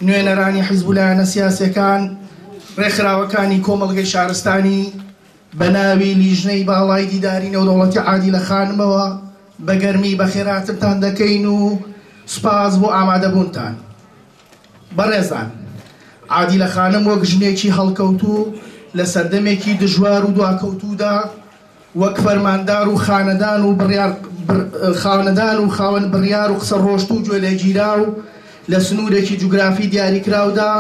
نوێنەرانی حیزب و لایەنە سیاسییەکان، ڕێکخراوەکانی کۆمەڵگەی شارستانی بە ناوی لیژنەی باڵای دیداری نێودەوڵەتی عادیلە خانمەوە بە گەرمی بەخێرهاتنتان دەکەین و سوپاس بۆ ئامادەبوونتان. بەڕێزان، عادیلە خانم وەک ژنێکی هەڵکەوتوو لە سەردەمێکی دژوار و دواکەوتوودا، وەک فەرماندار و خانەدان و بڕیار خانەدان و خاوەن بڕیار و قسە ڕۆشتوو و گوێ لێگیراو لە سنوورێکی جوگرافی دیاریکراودا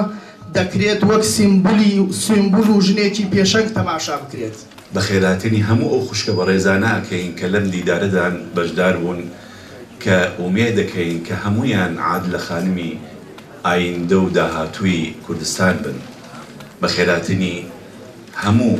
دەکرێت وەک سیمبولی سیمبول و ژنێکی پێشەنگ تەماشا بکرێت. بە خێراتنی هەموو ئەو خوشکە بەڕێزانە ئەکەین کە لەم دیدارەدان بەشدار بوون کە ئومێد دەکەین کە هەموویان عادلە خانمی ئایندە و داهاتووی کوردستان بن. بە خێراتنی هەموو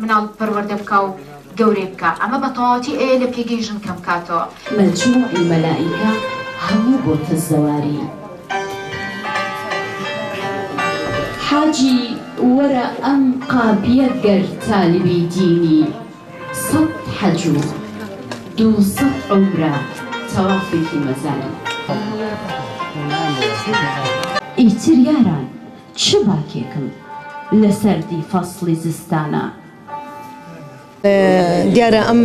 مناڵ پەروەردە بکا و گەورەی بکا ئەمە بە تەواوەتی ئەوێ لە پێگەی ژن کەم کاتەوە. مەجموعی مەلائیکە هەموو بۆتە زەواری. حاجی وەرە ئەم قاپیە گەر تالبی دینی سەد حەج و دوو سەد عومرە تەوافێکی مەزاری. ئیتر یاران چ باکێکم لە سەردی فەسڵی زستانە؟ دیارە ئەم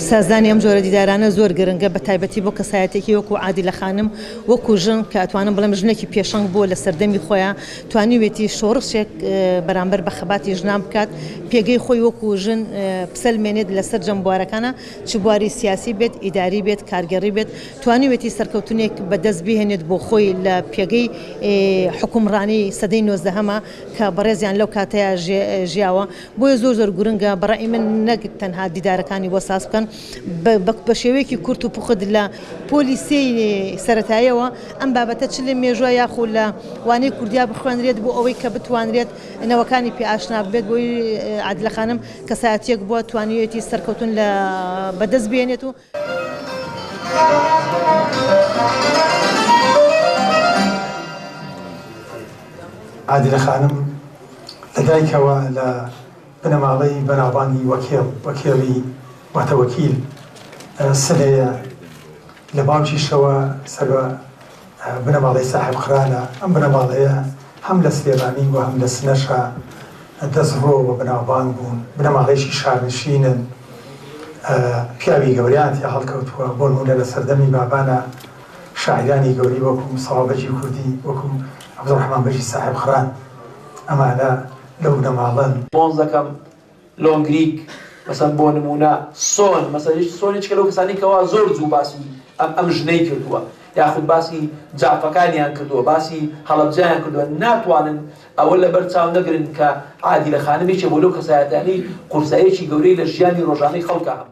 سازدانی ئەم جۆرە دیدارانە زۆر گرنگە بە تایبەتی بۆ کەسایەتێکی وەکو عادیلە خانم وەکو ژن کە ئەتوانم بڵێم ژنێکی پێشەنگ بووە لە سەردەمی خۆیان توانیوێتی شۆڕشێک بەرامبەر بە خەباتی ژنان بکات پێگەی خۆی وەکو ژن بسەلمێنێت لە سەرجەم بوارەکانە چ بواری سیاسی بێت ئیداری بێت کارگەڕی بێت توانیوێتی سەرکەوتنێک بە دەست بهێنێت بۆ خۆی لە پێگەی حوکمڕانی سەدەی نۆزدەهەما کە بەڕێزیان لەو کاتەیا ژیاوە بۆیە زۆر زۆر گورنگە بە ڕەئی من نەک تەنها دیدارەکانی بۆ ساز بکەن بە شێوەیەکی کورت و پوخت لە پۆلی سێی سەرەتایەوە ئەم بابەتە چ لە مێژوە یاخو لە وانەی کوردیا بخوێنرێت بۆ ئەوەی کە بتوانرێت نەوەکانی پێ ئاشنا بێت بۆی عادلە خانم کەسایەتیەک بوە توانیوێتی سەرکەوتن لە بەدەست بێنێت و عادلە خانم لە دایکەوە لە بنەماڵەی بەناوبانگی وەکێڵ، وەکێڵی واتە وەکیل، سلەیە، لە باوکیشەوە سەر بە بنەماڵەی ساحێب خرانە، ئەم بنەماڵەیە هەم لە سلێمانی و هەم لە سنەشا دەستڕۆ و بەناوبانگ بوون، بنەماڵەیەکی شارنشینن، پیاوی گەورەیان تیا هەڵکەوتووە، بۆ نموونە لە سەردەمی بابانە شاعیرانی گەورەی وەکوو مستەفا بەگی کوردی، وەکوو عەبدوڕەحمان بەگی ساحێب خران ئەمانە لەو بنەماڵەن. مۆزەکەم لۆنگریک، مەسەن بۆ نموونە، سۆن، مەسەن هیچ سۆن هیچکە لەو کەسانەی کەوا زۆر زوو باسی ئەم ئەم ژنەی کردووە یاخود باسی جافەکانیان کردووە باسی هەڵەبجەیان کردووە ناتوانن ئەوە لەبەر چاو نەگرن کە عادیلە خانم یەکێ بۆ لەو کەسایەتیانەی قورساییەکی گەورەی لە ژیانی ڕۆژانەی خەڵکا هەبووە.